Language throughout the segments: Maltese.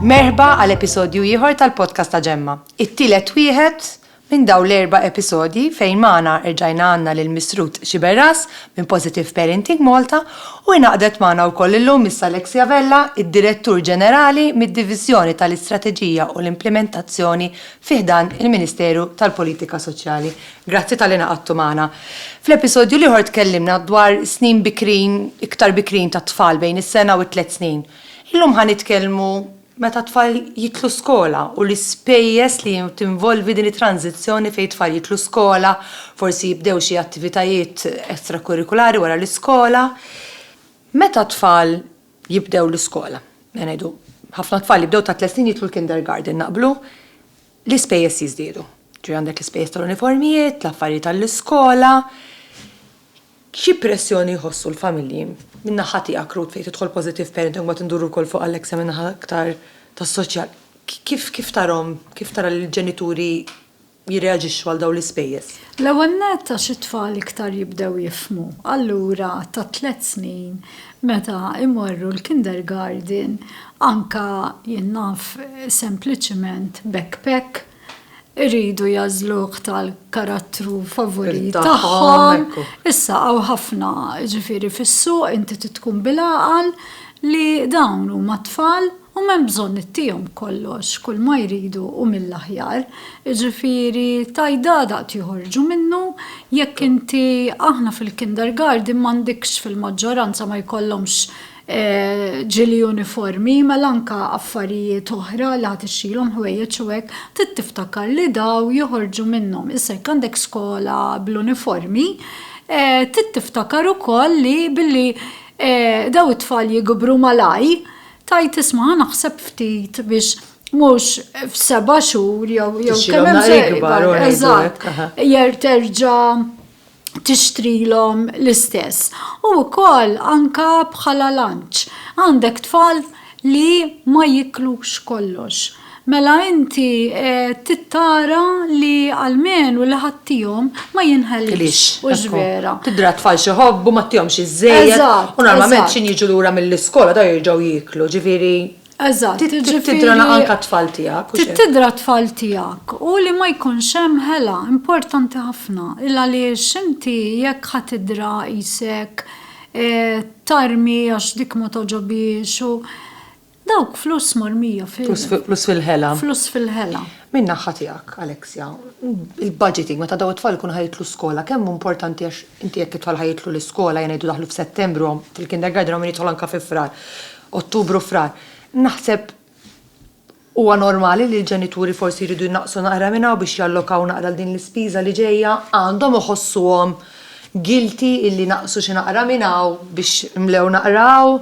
Merħba għal episodju ieħor tal-podcast ta' Ġemma. It-tielet wieħed minn daw l-erba episodji fejn maħna erġajna għanna lil misrut Xiberras minn Positive Parenting Malta u inaqdet maħna u koll illum Miss Alexia Vella, id-Direttur Ġenerali mid-Divizjoni tal-Istrateġija u l-Implementazzjoni fiħdan il-Ministeru tal-Politika Soċjali. Grazzi talli ngħaqadtu magħna. Fl-episodju l-ieħor tkellimna dwar snin bikrin, iktar bikrin tat-tfal bejn is-sena u t-tliet snin. Illum ħa nitkellmu meta t-tfal jidħlu skola u l-ispejjeż li tinvolvi din it-tranżizzjoni fejn it-tfal jidħlu skola, forsi jibdew xi attivitajiet extracurriculari wara l-iskola. Meta t-tfal jibdew l-iskola, ngħidu ħafna tfal jibdew tat-tliet snin jidħlu l-kindergarten, naqblu? l-ispejjeż jiżdiedu. Ġifieri għandek l-ispejjeż tal-uniformijiet, l-affarijiet għall-iskola. Xi pressjoni jħossu l-familji? Minn naħa tiegħek, Ruth, fejn tidħol Positive Parenting, mbagħad induru wkoll fuq Alexa minn naħa aktar tas-soċjal, kif kif tarahom, kif tara li l-ġenituri jirreaġixxu għal dawn l-ispejjeż? L-ewwel nett għax it-tfal iktar jibdew jifhmu. Allura ta' tliet snin meta jmorru l-kindergarten anke jien naf sempliċement backpack iridu jagħżluh tal-karattru favorit tagħhom, issa hawn ħafna ġifieri fis-suq inti trid tkun bil-għaqal li dawn huma tfal, U m'hemm bżonn ittihom kollox, kulma jridu hu mill-aħjar. Jiġifieri, tajdadaq tjoħorġu minnu, jekk inti, aħna fil-kindergarden m'għandikx fil-maġġoranza ma jkollhomx ġili uniformi, mela anke affarijiet oħra li ħa tixtrilhom ħwejjeġ u hekk, trid tiftakar li dawn joħorġu minnhom. Issa jekk għandek skola bl-uniformi, trid tiftakar ukoll li billi dawn it-tfal jikbru malajr, Tgħid isma' ħa naħseb ftit biex mhux f'seba' xhur jew jew kemm hemm eżatt jer terġa' tixtrilhom l-istess. U wkoll anka bħala lanċ għandek tfal li ma jiklux kollox. Mela inti trid tara li almenu li ħadtihom ma jinħelux, hux vera? Tidher għat-tfal xi jħobbu, ma ttihomx iżżejjed, u normalment x'ħin jiġu lura mill-iskola dawn jerġgħu jieklu, ġifieri trid tidher anke għat-tfal tiegħek, hux hekk? Trid tidher għat-tfal tiegħek u li ma jkunx hemm ħela, importanti ħafna, il-għaliex inti jekk ħa tidherha qisek tarmi għax dik ma togħġobhiex u. Dawk flus mormija fil-. Flus fi, flus fil-ħela. Flus fil-ħela. Minn naħħa tiegħek, Alexia, il-budgeting meta daw it-tfal ikunu ħa jidħlu skola kemm hu importanti għax inti jekk it-tfal ħa jidħlu l-iskola ħa ngħidu daħlu f'Settembru hawn fil-kindergarten hawn min jidħol anke fi Frar, Ottubru u Frar. Naħseb huwa normali li l-ġenituri forsi jridu jnaqqsu naqra minn hawn biex jallokaw naqra għal din l-ispiża li ġejja, għandhom iħossuhom guilty illi naqqsu xi naqra minn hawn biex imlew naqra hawn?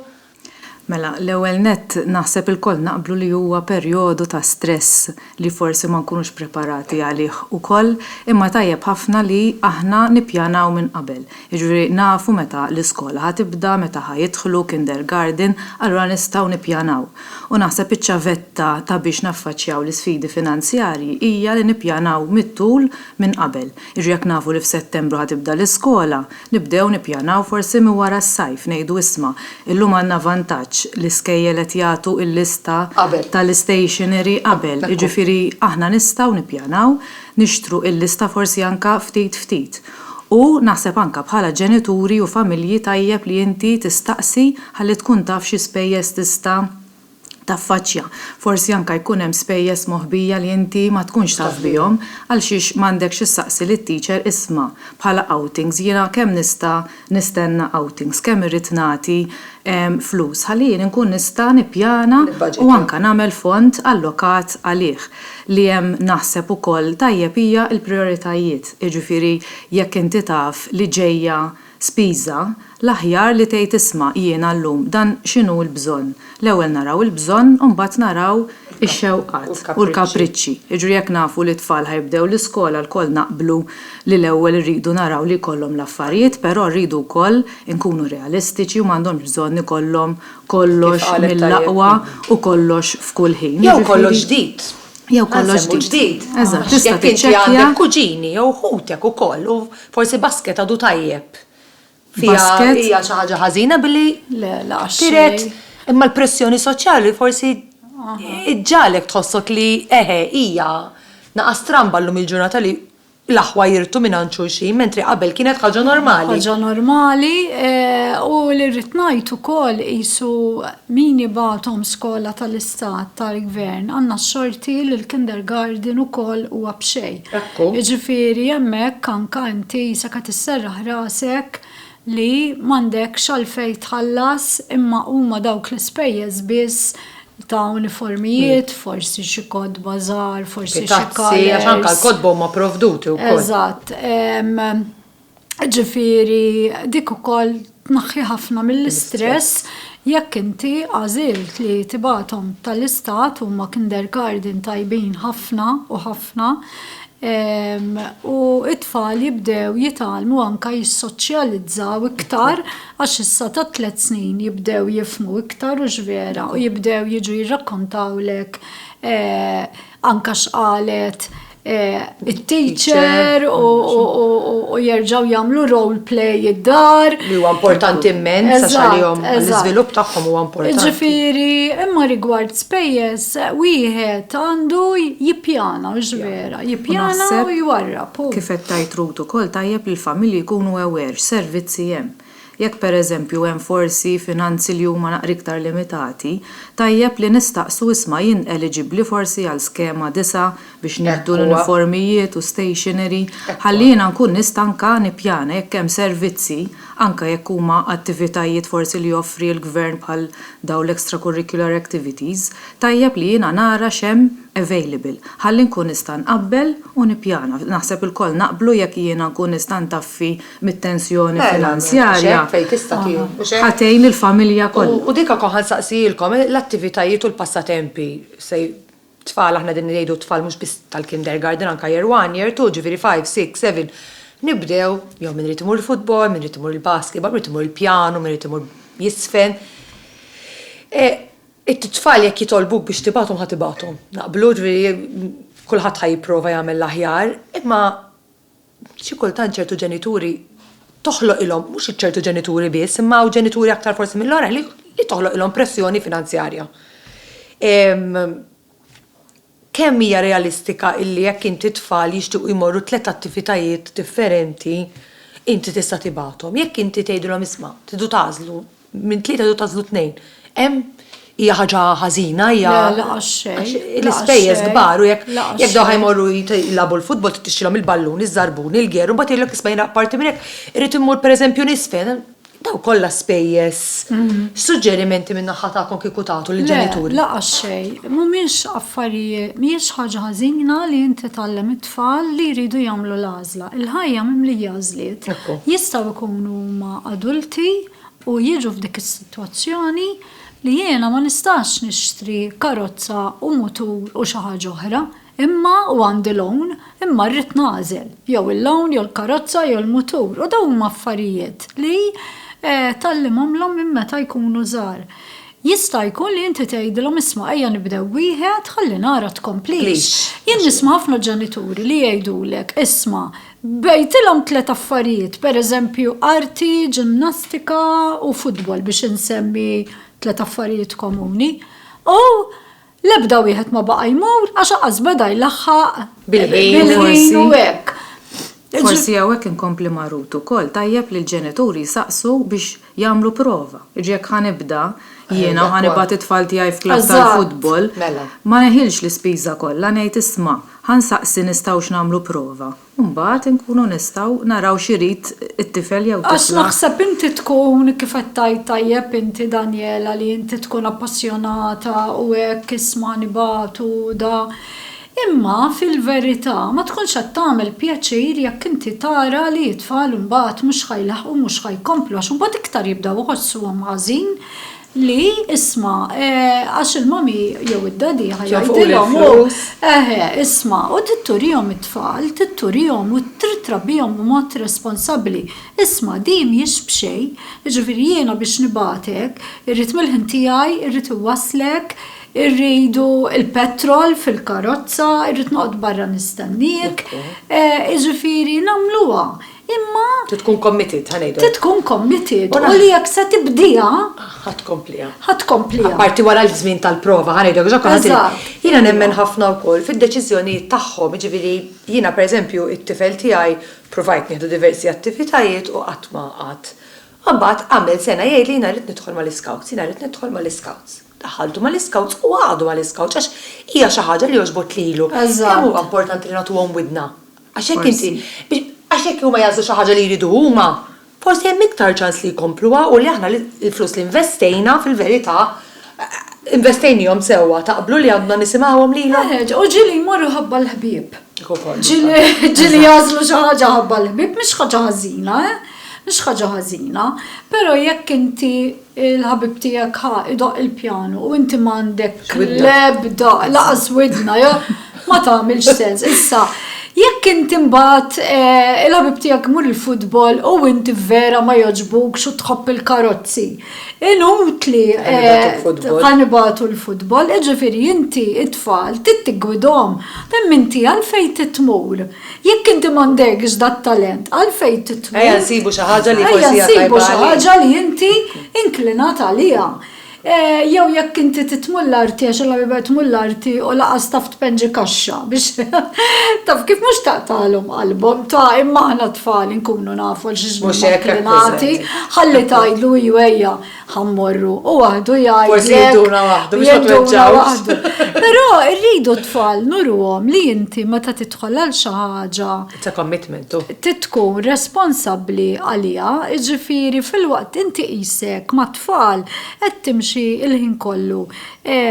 Mela, l-ewwel nett naħseb ilkoll naqblu li huwa perjodu ta' stress li forsi ma nkunux preparati għalih ukoll, imma tajjeb ħafna li aħna nippjanaw minn qabel. Jiġifieri nafu meta l-iskola ħa tibda, meta ħa jidħlu kindergarten, allura nistgħu nippjanaw. U naħseb iċ-ċavetta ta' biex naffaċċjaw l-isfidi finanzjarji hija li nippjanaw mit-tul minn qabel. Jiġri jekk nafu li f'Settembru ħa tibda l-iskola, nibdew nippjanaw forsi minn wara s-sajf, ngħidu isma', illum għandna vantaġġ, l-iskejjel qed jagħtu l-lista tal-istationery qabel, jiġifieri aħna nistgħu nippjanaw, nixtru l-lista forsi anke ftit ftit. U naħseb anke bħala ġenituri u familji tajjeb li inti tistaqsi ħalli tkun taf xi spejjeż tista' taffaċċja. Forsi anke jkun hemm spejjeż moħbija li inti ma tkunx taf bihom għalxiex m'għandekx issaqsi lit-teacher isma' bħala outings jiena kemm nista' nistenna outings, kemm irrid nagħti flus ħalli jien inkun nista' nippjana u anke nagħmel fond allokat għalih. Li hemm naħseb ukoll tajjeb hija l-prijoritajiet, jiġifieri jekk inti taf li ġejja Spiża, L-aħjar li tgħid isma' jiena llum dan x'inhu l-bżonn. L-ewwel naraw il-bżonn u mbagħad naraw ix-xewqat u l-kapriċċi. Jiġri jekk nafu li t-tfal ħa jibdew l-iskola lkoll naqblu li l-ewwel irridu naraw li jkollhom l-affarijiet però rridu wkoll inkunu realistiċi u m'għandhomx bżonn ikollhom kollox mill-aqwa u kollox f'kull ħin. Jew kollox ġdid. Jew kollox ġdid. Eżatt, tista' tiċċekkja. Għax jekk inti għandek kuġini jew ħutek ukoll u. Forsi basket għadu tajjeb. Fiha hija xi ħaġa ħażina billi tiret imma l-pressjoni soċjali forsi ġġagħlek tħossok li eħe hija naqas stramba llum il-ġurnata li l-aħwa jirtu mingħand xulxin mentri qabel kienet ħaġa normali. Ħaġa normali u li rrid ngħid ukoll qisu min jibgħathom skola tal-istat tal-gvern għandna x-xorti li l-kindergarten ukoll huwa b'xejn. Ekku. Jiġifieri hemmhekk anka inti sakemm tisserraħ rasek li m'għandekx għalfejn tħallas imma huma dawk l-ispejjeż biss ta' uniformijiet, forsi xi kotba żgħar, forsi xi kalers. Xi tazzi, għax anka l-kotba huma provduti wkoll. Eżatt. Ġifieri dik ukoll tnaħħi ħafna mill-istress jekk inti għażilt li tibgħathom tal-Istat huma kindergarten tajbin ħafna u ħafna u t-tfal jibdew jitgħallmu anke jissoċjalizzaw iktar għax issa ta' tliet snin jibdew jifhmu iktar hux vera u jibdew jiġu jirrakkontawlek anke x'qalet it-teacher u jerġgħu jagħmlu role play id-dar. Li huwa importanti immens għax għalihom l-iżvilupp tagħhom huwa importanti. Ġifieri, imma rigward spejjeż wieħed għandu jippjana mhux vera, jippjana u jwarrab. Kif qed tgħid Ruth ukoll tajjeb li l-familji jkunu aware x'servizzi hemm. Jekk pereżempju hemm forsi finanzi li huma naqra iktar limitati, tajjeb li nistaqsu isma' jien eliġibbli forsi għal skema disa' biex nieħdu l-uniformijiet u stationery ħalli jiena nkun nista' anke nippjana jekk hemm servizzi, anke jekk huma attivitajiet forsi li joffri l-gvern bħal dawn l-extracurricular activities, tajjeb li jiena nara x'hemm available ħalli nkun nista' nqabbel u nippjana. Naħseb ilkoll naqblu jekk jiena nkun nista' ntaffi mit-tensjoni finanzjarja ħa tgħin lill-familja kollha. U dik ukoll ħa nsaqsijilkom, l-attivitajiet u l-passatempi se tfal aħna qegħdin ngħidu t-tfal mhux biss tal-kindergarten anke year one, year two, ġifieri five, six, seven, nibdew jew min irid imur il-futbol, min irid imur il-basketball, min irid imur il-pjanu, min irid imur jiżfen. It-tfal jekk jitolbuk biex tibgħathom ħa tibgħathom. Naqblu? Ġifieri kulħadd ħa jipprova jagħmel l-aħjar, imma. Xi kultant ċertu ġenituri toħloqilhom, mhux iċ-ċertu ġenituri biss, imma hawn ġenituri aktar forsi mill-oħrajn li li toħloqilhom pressjoni finanzjarja. Kemm hija realistika illi jekk inti tfal jixtiequ jmorru tliet attivitajiet differenti, inti tista' tibgħathom? Jekk inti tgħidilhom isma' tridu tagħżlu Minn tlieta jew tagħżlu tnejn. Hemm hija ħaġa ħażina hija. Le, laqas xejn. Għax l-ispejjeż kbar u jekk jekk dawn ħajmorru jilagħbu l-futbol trid tixtrilhom il-ballun, iż-żarbun, il-gear u mbagħad jgħidlek isma' jiena apparti minn hekk irrid immur pereżempju nisfen. Dawn kollha spejjeż. X'suġġerimenti min-naħa tagħkom kieku tagħtu lill-ġenituri? Le, laqas xejn. Mhumiex affarijiet, mhijiex ħaġa ħażina li inti tgħallem it-tfal li jridu jagħmlu l-għażla. Il-ħajja mimlija għażliet. Jistgħu jkunu huma adulti. u jiġu f'dik is-sitwazzjoni li jiena ma nistax nixtri karozza u mutur u xi ħaġa oħra imma u għandi loan imma rrid nagħżel jew il-loan jew il-karozza jew il-mutur u dawn huma affarijiet li tgħallimhomlhom minn meta jkunu żgħar. Jista' jkun li inti tgħidilhom isma' ejja nibdew wieħed ħalli nara tkomplix. Jien nisma' ħafna ġenituri li jgħidulek isma' Bgħejtilhom tliet affarijiet, pereżempju arti, ġimnastika u futbol biex insemmi tliet affarijiet komuni. U l-ebda wieħed ma baqa' jmur għax qas beda jlaħħaq bil-ħin u hekk. Forsi hawnhekk inkompli ma' Ruth ukoll, tajjeb li l-ġenituri jsaqsu biex Jagħmlu prova. Jiġri jekk ħa nibda jiena u ħa nibgħat it-tfal tiegħi f'klabb tal-futbol, ma neħilx l-ispiża kollha, ngħid isma', ħa nsaqsi nistgħux nagħmlu prova. U mbagħad inkunu nistgħu naraw x'irid it-tifel jew tifla. Għax naħseb inti tkun, kif qed tgħid tajjeb inti Daniela li inti tkun appassjonata u hekk isma' nibgħatu da, Imma, fil-verità, ma tkunx qed tagħmel pjaċir jekk inti tara li t-tfal imbagħad mhux ħa jlaħħqu u mhux ħa jkomplu għax imbagħad iktar jibdew iħossuhom ħażin li, isma', għax il-mommy jew id-daddy ħa jgħidilhom u, eħe, isma', u trid turihom it-tfal, trid turihom u trid trabbihom b'mod responsabbli. Isma', din mhijiex b'xejn. Jiġifieri jiena biex nibgħatek, irrid mill-ħin tiegħi, irrid inwasslek, Irridu l-petrol fil-karozza, irrid noqgħod barra nistenniek, jiġifieri nagħmluha, imma. Trid tkun committed, ħa ngħidu hekk. Trid tkun committed u li jekk se tibdieha. Ħa tkompliha. Ħa tkompliha. Apparti wara l-żmien tal-prova, ħa ngħidu hekk, għax kulħadd. Jiena nemmen ħafna wkoll fid-deċiżjonijiet tagħhom, jiġifieri jiena pereżempju t-tifel tiegħi ppruvajt nieħdu diversi attivitajiet u qatt ma qgħad. Imbagħad għamel sena jgħidli jiena rrid nidħol mal-iscouts, jiena rrid nidħol mal-iscouts. daħaltu mal-Iscouts u għadu mal-Iscouts għax hija xi ħaġa li għoġbot lilu. Kemm huwa importanti li nagħtuhom widna. Għax jekk inti, għax jekk huma jagħżlu xi ħaġa li jridu huma, forsi hemm iktar ċans li jkompluha u li aħna l-flus li investejna fil-verità investejniehom sewwa. Taqblu li għandna nisimgħuhom lilhom? Eħe, u ġieli jmorru ħabba l-ħbieb. Ġieli jagħżlu xi ħaġa ħabba l-ħbieb mhix ħaġa ħażina, eh? Mhix ħaġa ħażina. Però jekk inti Il-ħabib tiegħek ħa idoqq il-pjanu u inti m'għandek l-ebda laqas widna, ma tagħmilx sens. Issa, jekk inti mbagħad eh, il-ħabib tiegħek mur il-futbol u inti vera ma jogħġbukx u tħobb il-karozzi. Inutli ħanibatu eh, l-futbol, iġifieri inti it-tfal tittigwidhom. Hemm inti għalfejn titmur. Jekk inti m'għandekx dat-talent, għalfejn titmu? Ejja nsibu xi ħaġa li forsi hija tajba għalik. Ejja nsibu xi ħaġa li inti inklinat għaliha. Jew jekk inti titmu l-arti għax Alla mibgħet tmu l-arti u lanqas taf tpenġi kaxxa biex taf kif mhux taqtagħlhom qalbhom, ta' imma aħna t-tfal inkunu nafu għal xiex nkunu inklinati. Ħalli tgħidlu iju ejja. ħammorru u għadu jgħid. Forsi jiduna waħdu, biex jitweġġawx. Però rridu tfal nurwom li inti meta tidħol għal xi ħaġa. Ta' commitment. Titkun responsabbli għalija, ġifiri fil-waqt inti qisek ma' tfal qed timxi il-ħin kollu.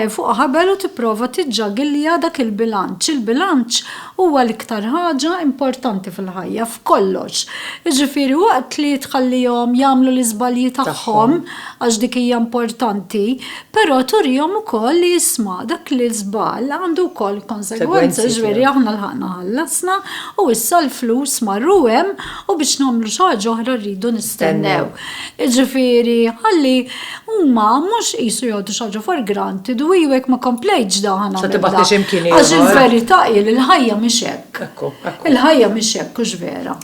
fuq ħabel u tipprova tiġġagilja dak il-bilanċ. Il-bilanċ huwa l-iktar ħaġa importanti fil-ħajja, f'kollox. Jiġifieri waqt li tħallihom jagħmlu l-iżbalji tagħhom, għax dik hija importanti, però turihom ukoll li isma' dak l-iżball għandu wkoll konsegwenzi, jiġifieri aħna lħaqna ħallasna u issa l-flus marru hemm u biex nagħmlu xi ħaġa oħra rridu nistennew. Jiġifieri, ħalli huma mhux qisu jgħoddu xi ħaġa for granted u iju jekk ma komplejtx dan ħa nagħmel dan. Għax il-verità hi li l-ħajja mhix hekk. Il-ħajja mhix hekk, hux vera?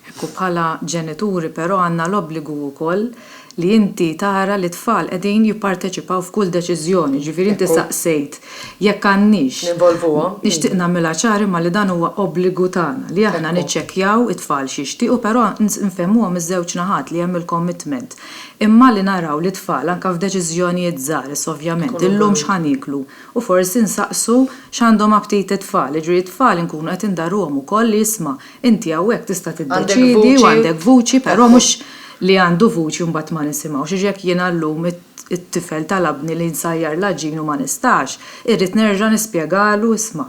Ekku, bħala ġenituri però għandna l-obbligu wkoll li inti tara li t-tfal qegħdin jipparteċipaw f'kull deċiżjoni. Jiġifieri inti saqsejt Jekk għandniex. Ninvolvuhom. Nixtieq nagħmilha ċara imma li dan huwa obbligu tagħna li aħna niċċekkjaw it-tfal x'jixtiequ però nfehmuhom iż-żewġ naħat li hemm il-commitment imma li naraw li t-tfal anke f'deċiżjonijiet żgħar issa ovvjament illum x'ħa nieklu u forsi nsaqsu x'għandhom aptit it-tfal jiġifieri t-tfal inkunu qed indarruhom ukoll li isma' Inti hawnhekk tista' tiddeċiedi u għandek vuċi però mhux li għandu vuċi u mbagħad ma nisimgħux. Għax jekk jiena llum it-tifel talabni li nsajjar l-għaġin u ma nistax, irrid nerġa' nispjegalu isma',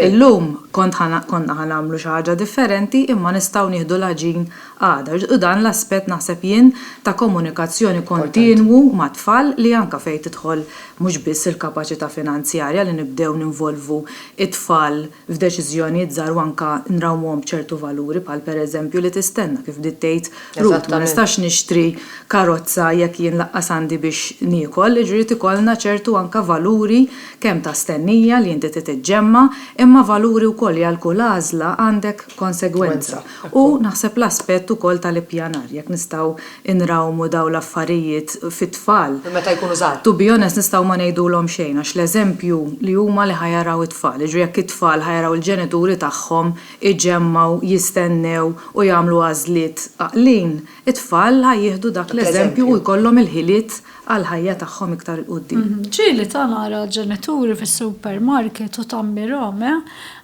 illum konna ħa nagħmlu xi ħaġa differenti imma nistgħu nieħdu l-għaġin għada. U dan l-aspett naħseb jien ta' komunikazzjoni kontinwu mat-tfal li anke fejn tidħol mhux biss il-kapaċità finanzjarja li nibdew ninvolvu t-tfal f'deċiżjonijiet żgħar u anke nrawmuhom b'ċertu valuri bħal pereżempju li tistenna kif bdiet tgħid Ruth ma nistax nixtri karozza jekk jien lanqas għandi biex niekol jiġifieri jrid ikollna ċertu anke valuri kemm ta' stennija li inti trid iġġemma' imma valuri wkoll li għal kull għażla għandek konsegwenza. U naħseb l-aspett ukoll tal-ippjanar, jekk nistgħu nrawmu dawn l-affarijiet fit-tfal. Minn meta jkunu żgħar. To be honest nistgħu ma ngħidulhom xejn għax l-eżempju li huma li ħa jaraw it-tfal. Jiġri jekk it-tfal ħa jaraw il-ġenituri tagħhom iġemmgħu, jistennew u jagħmlu għażliet għaqlin, It-tfal ħa jieħdu dak l-eżempju u jkollhom il-ħiliet għall-ħajja tagħhom iktar 'il quddiem. Ġieli ta' nara ġenituri fis-supermarket u tammirhom, eh,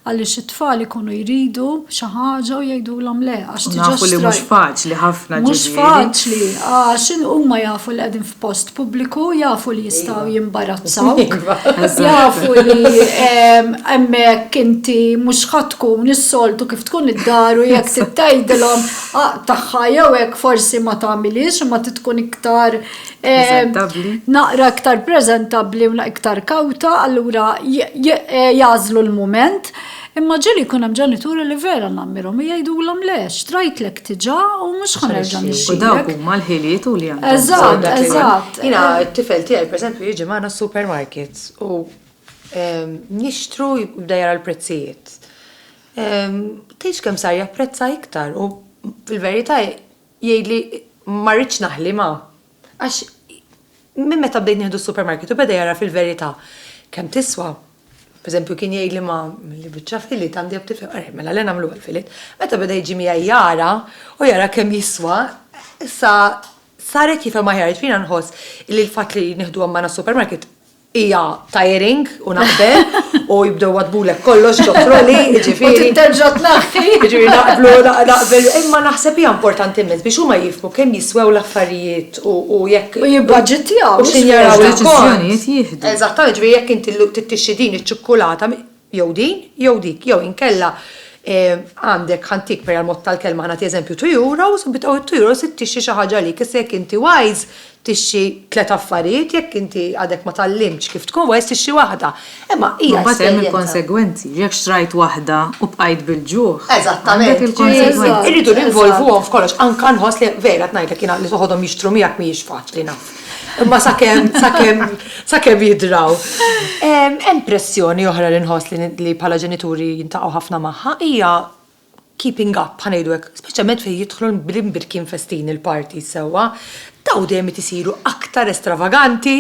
għaliex it-tfal ikunu jridu xi ħaġa u jgħidulhom le għax diġà xtrajt. U nafu li mhux faċli ħafna ġifieri. Mhux faċli għax huma jafu li qegħdin post pubbliku, jafu li jistgħu jimbarazzawk, jafu li hemmhekk inti mhux ħadd tkun is-soltu kif tkun id-dar u jekk trid tgħidilhom tagħha jew hekk forsi ma tagħmilhiex imma trid tkun iktar naqra iktar preżentabbli u iktar kawta, allura jagħżlu l-mument. Imma ġieli jkun hemm ġenituri li vera nagħmmirhom u jgħidulhom le, xtrajtlek diġà u mhux ħa nerġa' nixtrilek. U dawk huma l-ħiliet u li għandhom bżonn. Eżatt, eżatt. Jiena t-tifel tiegħi pereżempju jiġi magħna s-supermarket u nixtru jibda jara l-prezzijiet. Tgħidx kemm sar japprezza iktar u fil-verità jgħidli ma rridx naħli ma. Għax minn meta bdejt nieħdu s-supermarket u beda jagħraf il-verità kemm tiswa, pereżempju kien jgħidli ma milli biċċa fillet għandi jekk tifhem, ara mela le nagħmluha l-fillet, meta beda jiġi miegħi jara u jara kemm jiswa, issa sar qed jifhem aħjar, jiġifieri jiena nħoss li l-fatt li nieħduhom magħna s-supermarket hija tiring u naqbel u jibdew wadbulek kollox ġofroli, ġifieri. Terġa' tnaħħi. Ġifieri naqblu naqbel, imma naħseb hija importanti immens biex huma jifhmu kemm jiswew l-affarijiet u jekk. U jibbaġitjaw. U x'injaraw il-kont. Eżattament, ġifieri jekk inti llum tittixxi din iċ-ċukkulata, jew din, jew dik, jew inkella għandek ħa ntik per għall-mod tal-kelma ħa nagħti eżempju two euros, bi dawn it-two euros int tixtri xi ħaġa għalik. Issa jekk inti wise tixtri tliet affarijiet, jekk inti għadek ma tgħallimtx kif tkun wise tixtri waħda. Imma hija s-serjetà. Imbagħad hemm il-konsegwenzi. Jekk xtrajt waħda u bqajt bil-ġuħ, għandek il-konsegwenzi. Irridu ninvolvuhom f'kollox. Anke nħoss li vera qed ngħidlek jiena li toħodhom jixtru miegħek mhijiex faċli naf. Imma sakemm sakemm sakemm jidraw. Hemm pressjoni oħra li nħoss li bħala ġenituri jintaqgħu ħafna magħha hija keeping up ħa ngħidu hekk, speċjalment fejn jidħlu l-imbirkien festini, l-parties sewwa, dawn dejjem qed isiru aktar estravaganti,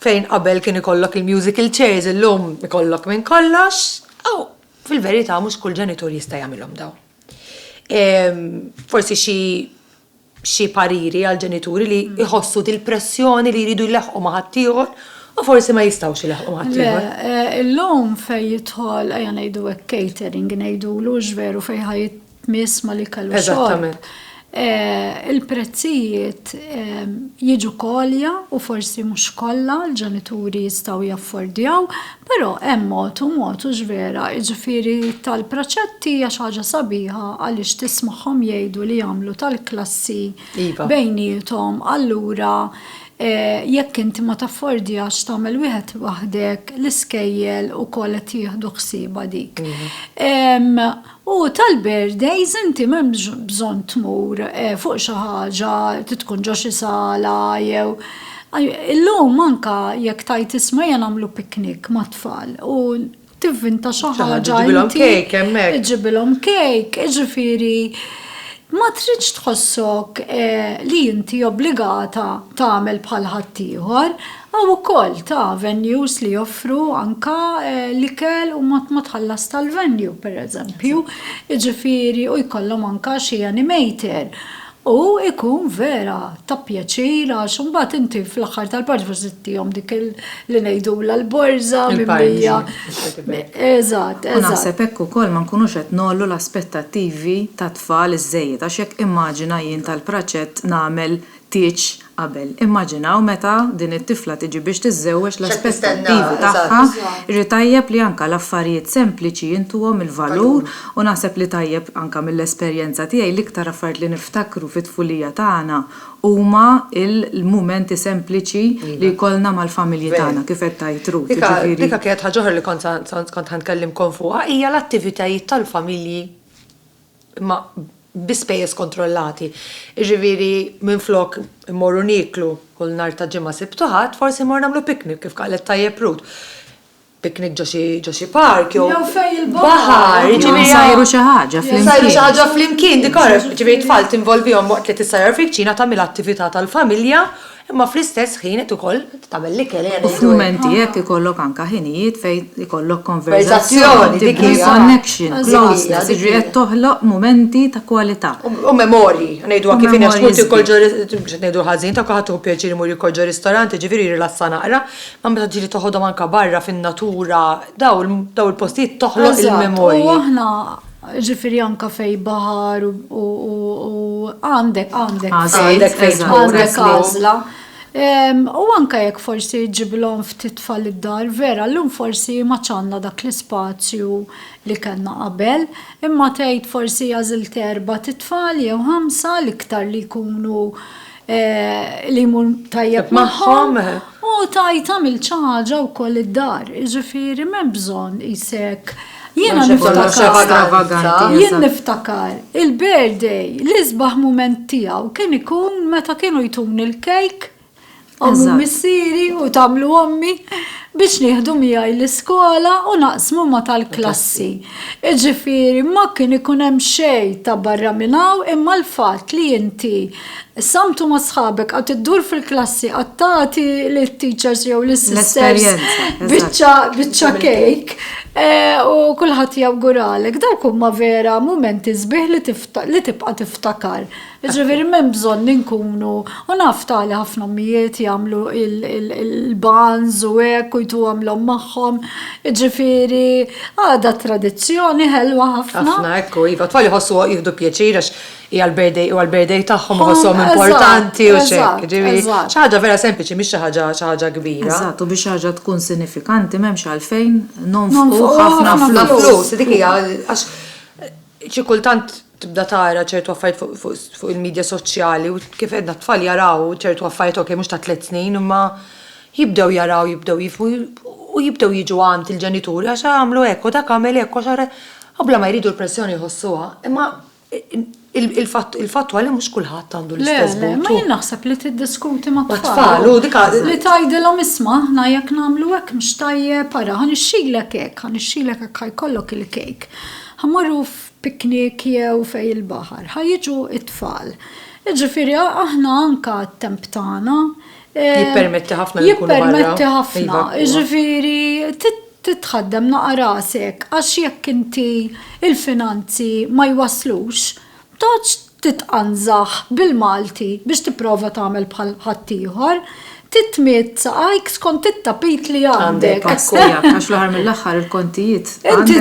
fejn qabel kien ikollok il-musical chairs illum ikollok minn kollox, u fil-verità mhux kull ġenitur jista' jagħmilhom dawn. Forsi xi xi pariri għal ġenituri li jħossu dil-pressjoni li jridu jlaħħqu ma' ħaddieħor u forsi ma jistgħux ilaħħqu ma' ħaddieħor. Le, illum fejn jidħol, ejja ngħidu hekk catering ngħidulu hux veru fejn ħa jitmiss mal-ikel u xorb. Il-prezzijiet jiġu għolja u forsi mhux kollha l-ġenituri jistgħu jaffordjaw, Però hemm mod u mod hux vera, jiġifieri tal-praċetti hija xi ħaġa sabiħa għaliex tismagħhom jgħidu li jagħmlu tal-klassi iva. bejniethom allura Eh, jekk inti ma taffordjax tagħmel wieħed waħdek l-iskejjel ukoll qed jieħdu ħsieba dik. Mhm. U tal-birthdays inti m'hemmx bżonn tmur fuq xi ħaġa trid tkun ġo xi sala jew Illum anke jekk tgħid isma' ejja nagħmlu picnic mat-tfal u tivvinta xi ħaġa inti. Iġġibilhom cake, jiġifieri ma tridx tħossok li inti obbligata tagħmel bħal ħaddieħor. Hawn ukoll ta' venues li joffru anka l-ikel u ma tħallas tal-venue pereżempju, jiġifieri u jkollhom anka xi animator u jkun vera ta' pjaċir għax imbagħad inti fl-aħħar tal-parti forsi tagħtihom dik li ngħidulha l-borża mimlija. Eżatt, eżatt. U naħseb hekk ukoll ma nkunux qed ngħollu l-aspettattivi tat-tfal iżżejjed għax jekk immaġina jien tal-praċett nagħmel tieġ qabel. Immaġinaw meta din it-tifla tiġi biex tiżżewweġ l-aspettattivi tagħha, irrid tajjeb li anka l-affarijiet sempliċi intuhom il-valur u naħseb li tajjeb anka mill-esperjenza tiegħi l-iktar affarijiet li niftakru fit-tfulija tagħna huma l-mumenti sempliċi li jkollna mal-familji tagħna kif qed tgħid Ruth jiġifieri. Dik kienet ħaġa oħra li kont ħa nkellimkom fuqha hija l-attivitajiet tal-familji. imma bi spejjeż kontrollati, jiġifieri minflok immorru nieklu kull nhar ta' Ġimgħa, Sibt u Ħadd, forsi mmorru nagħmlu picnic, kif qalet tajjeb Ruth. Picnic ġo xi ġo xi park jew Jew fejn il-baħar. Jew insajru xi ħaġa flimkien. Insajru xi ħaġa flimkien, dik għaraf, jiġifieri t-tfal tinvolvihom waqt li tissajjar fil-kċina tagħmel attività tal-familja Imma fl-istess ħin qed ukoll tagħmel l-ikel hija ngħidu hekk. U f'mumenti hekk ikollok anke ħinijiet fejn ikollok konverżazzjoni, dik hi connection, closeness, jiġifieri qed toħloq mumenti ta' kwalità. U memorji, ngħiduha kif inhi għax tmur tiekol ġo, mhux qed ngħidu ħażin, ta' kulħadd tieħu pjaċir imur jiekol ġo ristorant, jiġifieri jirrilassa naqra, imma meta tiġi toħodhom anke barra fin-natura, dawn il-postijiet toħloq il-memorji. Eżatt, u aħna Jiġifieri anke fejn baħar u għandek għażla. U anke jekk forsi ġġibilhom ftit tfal id-dar, vera llum forsi ma għadx għandna dak l-ispazju li kellna qabel, imma tgħid forsi għażilt erbat' itfal jew ħamsa l-iktar li jkunu li jmur tajjeb magħhom. U tajt għamil ċaġa u koll id-dar, ġifiri mem bżon jisek. Jena niftakar, jien niftakar, il-birthday, l-izbaħ moment tijaw, kien ikun meta kienu jtun il-kejk, għamlu missiri u tamlu għammi, biex nieħdu miegħi l-iskola u naqsmu ma tal-klassi. Ġifiri, ma kien ikun hemm xej ta' barra minnaw imma l-fat li inti Samtu ma' sħabek, għad iddur fil-klassi, għad tagħti lit-teachers jew lis-sisters biċċa kejk eh, u kulħadd jawguralek. Dawk huma vera mumenti sbieħ li tibqa' tiftakar. Ġifieri m'hemm bżonn li nkunu u naf tali ħafna mijiet jagħmlu il-banz u hekk u jtu għamlhom magħhom. Ġifieri għadha tradizzjoni ħelwa ħafna. Ħafna, ekku, iva, tfal jħossu jieħdu pjaċir għax hija l-birthday huwa l-birthday tagħhom u ħosshom Hom, importanti u eżatt, x'hekk. eżatt, Jiġifieri eżatt. xi ħaġa vera sempliċi mhix xi ħaġa xi ħaġa kbira. Eżatt, u biex xi ħaġa tkun sinifikanti m'hemmx għalfejn nonfqu Nonfqu ħafna ħafna flus. Ħafna flus. flus, dik hija għax xi kultant tibda tara ċertu affarijiet fuq fuq fuq il-media soċjali u kif għedna t-tfal jaraw ċertu affarijiet ok mhux ta' tliet snin imma jibdew jaraw jibdew jifhmu u jibdew jiġu għand il-ġenituri għax għamlu hekk u dak għamel hekk u għax ara- u bla ma jridu l-pressjoni jħossuha imma Il-fatt huwa li mhux kulħadd għandu l-istess but. Le, ma jien naħseb li tiddiskuti ma' tfal. Li tgħidilhom isma' aħna jekk nagħmlu hekk mhux tajjeb, ara ħa nixxilek hekk, ħa nixxilek hekk ħa jkollok il-kejk. Ħa mmorru f'piknik jew fejn il-baħar, ħa jiġu t-tfal. Jiġifieri aħna anke t-temp tagħna, Jippermetti ħafna li jkunu barra. Jippermetti ħafna, ġifieri titħaddem naqa' rasek għax jekk inti il-finanzi ma jwasslux, toqgħodx titqanżaħ bil-Malti biex tipprova tagħmel bħal ħaddieħor. Trid tmidd saqajk skont it-tapit li għandek. Għax fl-aħħar mill-aħħar il-kontijiet. Inti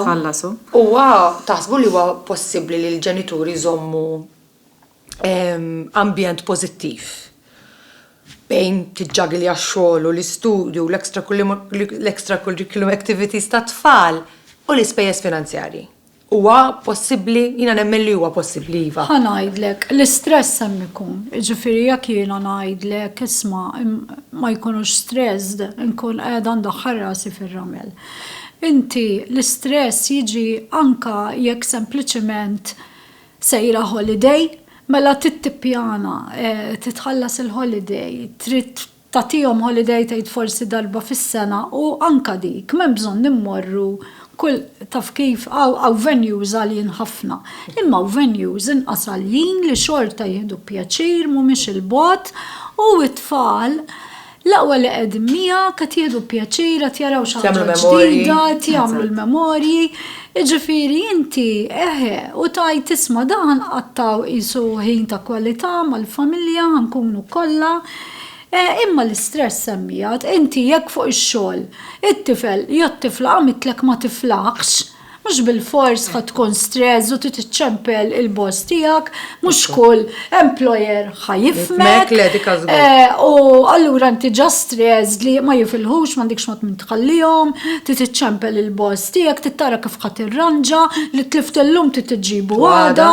tħallashu. Huwa taħsbu li huwa possibbli li l-ġenituri jżommu ambjent pożittiv fejn tiġġagilja x-xogħol u l-istudju u l-extracurriculum activities tat-tfal u l-ispejjeż finanzjarji. Huwa possibbli? Jiena nemmen li huwa possibbli iva. Ħa ngħidlek, l-istress hemm ikun. Jiġifieri jekk jiena ngħidlek isma' ma jkunux stressed, inkun qiegħda ndaħħal rasi fir-ramel. Inti l-istress jiġi anke jekk sempliċement Sejra holiday? Mela trid tippjana, titħallas il-holiday, trid tagħtihom holiday tgħid forsi darba fis-sena u anke dik m'hemm bżonn immorru kull taf kif hawn venues għaljin ħafna. Imma hawn venues inqas għaljin li xorta jieħdu pjaċir mhumiex 'il bogħod u t-tfal L-aqwa li qegħdin miegħek, qed jieħdu pjaċir, qed jaraw xi ħaġa ġdida, qed jagħmlu l-memorji. Jiġifieri inti, eħe, u tgħid, isma' dan ħa nqattgħu qisu ħin ta' kwalità mal-familja, ħa nkunu kollha. Imma l-istress hemm miegħek. Inti jekk fuq ix-xogħol it-tifel jew t-tifla għamidtlek ma tiflaħx, Mhux bilfors ħa tkun stress u trid iċċempel il-boss tiegħek, mhux kull employer ħa jifhmek. Eh, u allura inti ġa stress li ma jifilħux m'għandikx mod minn tħallihom, trid iċċempel il-boss tiegħek, trid tara kif ħadd irranġa li tlift illum trid iġġibu għada.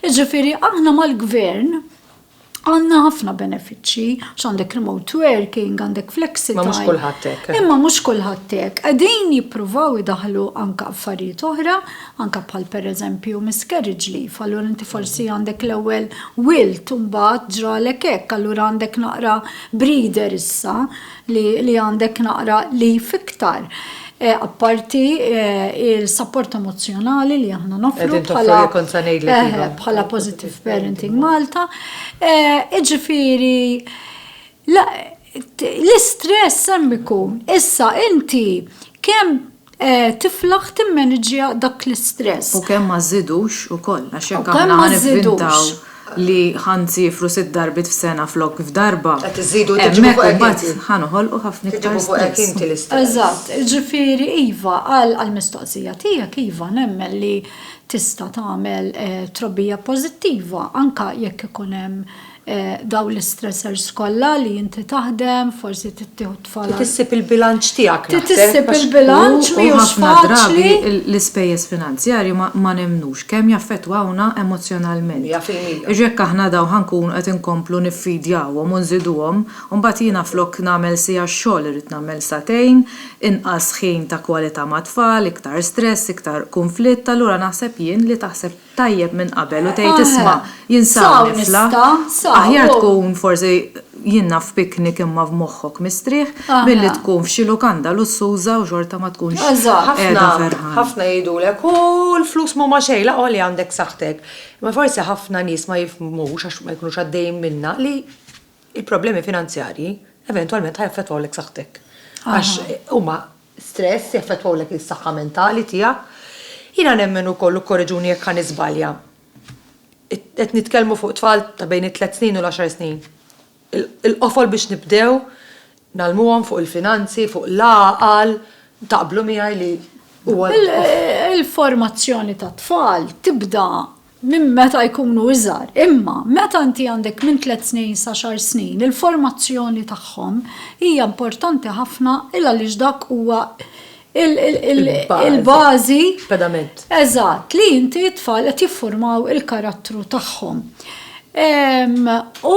Jiġifieri aħna mal-gvern Għandna ħafna benefiċċji, għax għandek remote working, għandek flexi. Ma mhux kulħadd hekk. Eh. Imma mhux kulħadd hekk. Qegħdin jippruvaw idaħlu anke affarijiet oħra, anke bħal pereżempju miscarriage leave, allura inti forsi mm. għandek l-ewwel wilt u mbagħad ġralek hekk, allura għandek naqra breeder issa. li li għandek naqra leaf iktar apparti il-sapport emozzjonali li aħna nofru bħala Positive Parenting Malta. Iġifieri l-istress hemm ikun. Issa inti kemm tiflaħ timmaniġġja dak l-istress. U kemm ma żżidux ukoll, għax jekk aħna ħa nivvintaw li ħa nsiefru sitt darbiet f'sena flok f'darba, hemmhekk imbagħad ħa noħolqu ħafna iktar stress. Eżatt, jiġifieri iva, għall-mistoqsija tiegħek, iva, nemmen li tista' tagħmel trobbija pożittiva anke jekk ikun hemm dawn l-istressors kollha li inti taħdem, forsi trid tieħu t-tfal. Trid issib il-bilanċ tiegħek naħseb. Trid issib il-bilanċ mhijiex faċli. L-ispejjeż finanzjarji ma nemmnux kemm jaffettwawna emozzjonalment. Mija fil-mija. Għax jekk aħna dawn ħa nkunu qed inkomplu niffidjawhom u nżiduhom, u mbagħad jiena flok nagħmel siegħa xogħol irrid nagħmel sagħtejn, inqas ħin ta' kwalità mat-tfal, iktar stress, iktar kunflitt, allura naħseb jien li taħseb. tajjeb minn qabel u tgħid isma' jien sa hawn nifla, aħjar tkun forsi jien naf f'piknik imma f'moħħok mistrieħ milli tkun f'xi lukanda lussuża u xorta ma tkunx qiegħda ferħan. Ħafna jgħidulek u l-flus m'huma xejn l-aqwa li għandek saħħtek. Imma forsi ħafna nies ma jifhmux għax ma jkunux għaddejjin minnha li l-problemi finanzjarji eventwalment ħa jaffettwawlek saħħtek. Għax huma stress, jaffettwawlek is-saħħa mentali tiegħek. Jiena nemmen ukoll, u kkoreġuni jekk ħa niżbalja, qed nitkellmu fuq tfal ta' bejn it-tliet snin u l-għaxar snin, il-qofol biex nibdew ngħallmuhom fuq il-finanzi, fuq l-għaqal, taqblu miegħi li huwa l-qofol? Il-formazzjoni tat-tfal tibda minn meta jkunu iżgħar, imma meta inti għandek minn tliet snin sa xar snin, il-formazzjoni tagħhom hija importanti ħafna il għaliex dak huwa il-bażi. Pedament. Eżatt, li inti t-tfal qed jiffurmaw il-karattru tagħhom. U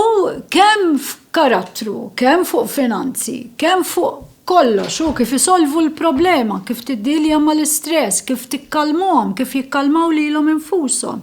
kemm f'karattru, kemm fuq finanzi, kemm fuq kollox, hu kif isolvu l-problema, kif tiddielja mal-istress, kif tikkalmhom, kif jikkalmaw lilhom infushom.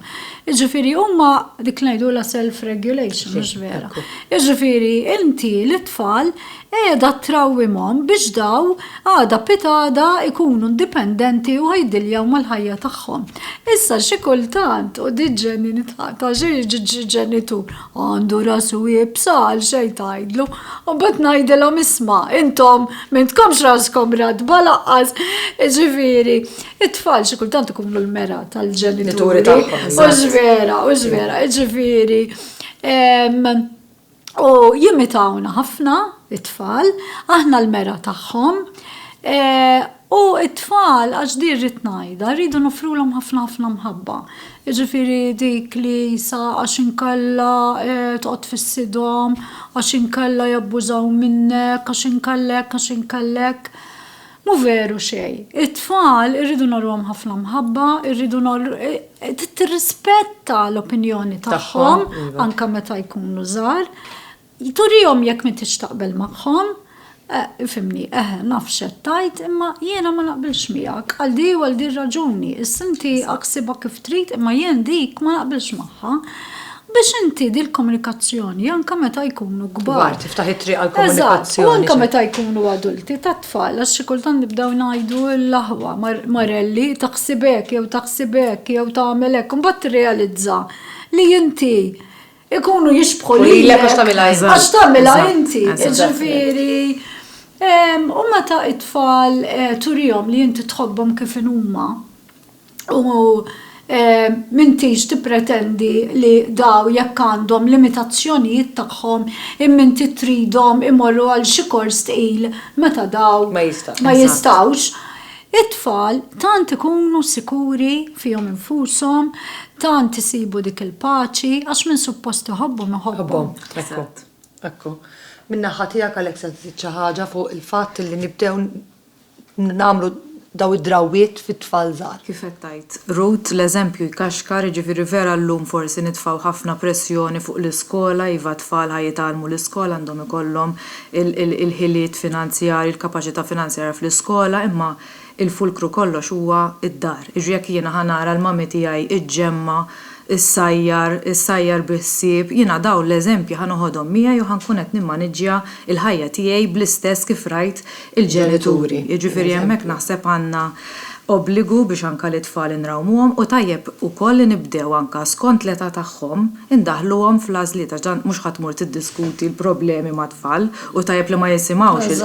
Jiġifieri huma dik li ngħidulha self regulation, mhux vera. Jiġifieri inti lit-tfal qiegħda trawwimhom biex daw għada pitgħada jkunu indipendenti u ħajdiljjaw mal-ħajja tagħhom. Issa xi kultant, u din ġenni nidħaq, taf xi jiġri ġenitur, Għandu rasu iebsa għal xejn tgħidlu. U mbagħad ngħidilhom isma' intom m'intkomx raskom ratba laqqas. Ġifieri, it-tfal xi kultant ikunu l-mera tal-ġenituri tagħhom. Mhux vera, mhux vera. Ġifieri, u jimitawna ħafna it-tfal, aħna l-mera tagħhom. U t-tfal, għax din rrid ngħidha, rridu noffrulhom ħafna ħafna mħabba. Jiġifieri dik li sa għax inkella toqgħod tfissidhom, għax inkella jabbużaw minnek, għax inkella hekk, għax inkella hekk. Mhu veru xejn. It-tfal irridu ngħorruhom ħafna mħabba, irridu trid tirrispetta l-opinjoni tagħhom anke meta jkunu żgħar. Turihom jekk m'intix taqbel magħhom. Ifhimni, eħe, naf x'qed tgħid, imma jiena ma naqbilx miegħek, għal di u għal di r-raġuni. Issa inti aħsibha kif trid, imma jien dik ma naqbilx magħha. Biex inti dil-komunikazzjoni, anke meta jkunu kbar. Kbar, tiftaħ it-triq għall-komunikazzjoni. Eżatt, u anke meta jkunu adulti, tat-tfal, għax xi kultant nibdew ngħidu l-aħwa, Marelli, taħsib hekk, jew taħsib hekk, jew tagħmel hekk, u mbagħad tirrealizza li inti ikunu jixbħu li l għax tamila inti. Għax tamila inti, ġifiri. U meta it-tfal eh, turijom li inti tħobbom kif inuma u eh, mintix tippretendi li daw jekk għandhom limitazzjonijiet tagħhom imminti tridhom imorru għal xi kors tqil meta daw ma jistawx. It-tfal tant ikunu sikuri fihom infushom, tant isibu dik il-paċi, għax min suppost iħobbhom iħobbhom. Eżatt. Ekku. Min-naħa tiegħek għalhekk se żżid xi ħaġa fuq il-fatt li nibdew nagħmlu dawn id-drawwiet fit-tfal żgħar? Kif qed tgħid, Ruth, l-eżempju jkaxkar, jiġifieri vera llum forsi nitfgħu ħafna pressjoni fuq l-iskola, iva t-tfal ħa jitgħallmu l-iskola għandhom ikollhom il-ħiliet finanzjarji, il-kapaċità finanzjarja fl-iskola, imma l-fulkru kollox huwa d-dar. Jiġri jekk jiena ħa nara l-mommy tiegħi ġġemma, issajjar, issajjar bi ħsieb, jiena dawn l-eżempji ħa noħodhom miegħi u ħa nkun qed nimmaniġġja l-ħajja tiegħi bl-istess kif rajt il-ġenituri. Jiġifieri hemmhekk naħseb għandna obbligu biex anka lit-tfal inrawmuhom u tajjeb ukoll li nibdew anka skont l-età tagħhom indaħħluhom fl-għażliet għax dan mhux ħa tmur tiddiskuti l-problemi mat-tfal u tajjeb li ma jisimgħux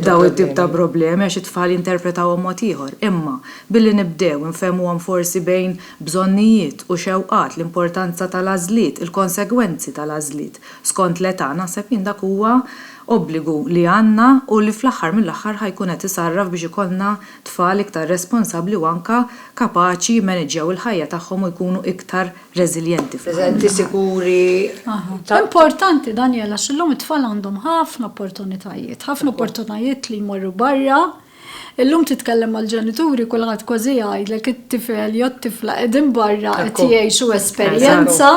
dawn it-tip ta' problemi għax it-tfal jinterpretawhom mod ieħor imma billi nibdew infehmuhom forsi bejn bżonnijiet u xewqat l-importanza tal-għażliet il-konsegwenzi tal-għażliet skont l-età naħseb jien dak huwa Obbligu li għandna u li fl-aħħar mill-aħħar ħa jkun qed isarraf biex ikollna tfal iktar responsabbli u anke kapaċi jimmaniġġjaw il-ħajja tagħhom u jkunu iktar reżiljenti fl-aħħar mill-aħħar. Preżenti, sikuri, ta'. Importanti, Daniel, għax illum it-tfal għandhom ħafna opportunitajiet, ħafna opportunajiet li jmorru barra. Illum titkellem mal-ġenituri kulħadd kważi jgħidlek it-tifel jew t-tifla qegħdin barra qed jgħixu esperjenza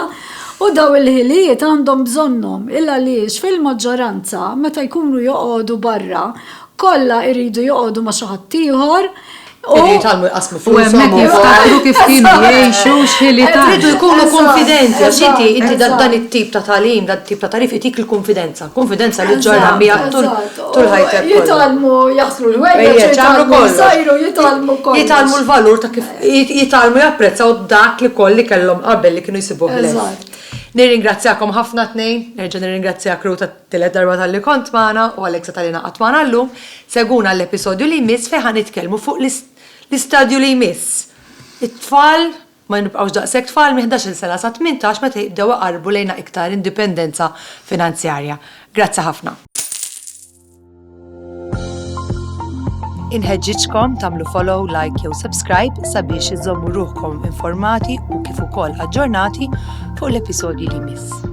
u dawn il-ħiliet għandhom bżonnhom il għaliex fil-maġġoranza meta jkunu joqogħdu barra kollha jridu joqogħdu ma' xi ħadd ieħor u Iridu jitgħallmu jqassmu flushom u hemmhekk jiftakru kif kienu jgħixu x'ħiliet għandhom. Iridu jkunu kunfidenti għax inti inti dan it-tip ta' tagħlim dan it-tip ta' tagħrif itik il-kunfidenza. Kunfidenza li ġġorha miegħek tul tul ħajtek kollha. Jitgħallmu jaħslu l-ħwejjeġ, Ejjeż, jagħmlu jitgħallmu kollox. jsajru, jitgħallmu kollox. Jitgħallmu l-valur ta' kif jit- jitgħallmu japprezzaw dak li koll li kellhom qabel li kienu jsibuh ħlejn. Eżatt. Nirringrazzjakom ħafna t-tnejn, nerġa' nirringrazzjak Ruth għat-tielet darba talli kont magħna u Alexa talli ingħaqadt magħna llum. Segwuna għall-episodju li jmiss fejn ħa nitkellmu fuq l-is- l-istadju li jmiss. It-tfal Ma nibqgħux daqshekk tfal minn ħdax-il sena sa tmintax meta jibdew iqarrbu lejna iktar indipendenza finanzjarja. Grazzi ħafna. Inħeġġiġkom tagħmlu follow, like jew subscribe sabiex iżommu ruħkom informati u kif ukoll aġġornati fuq l-episodji li jmiss.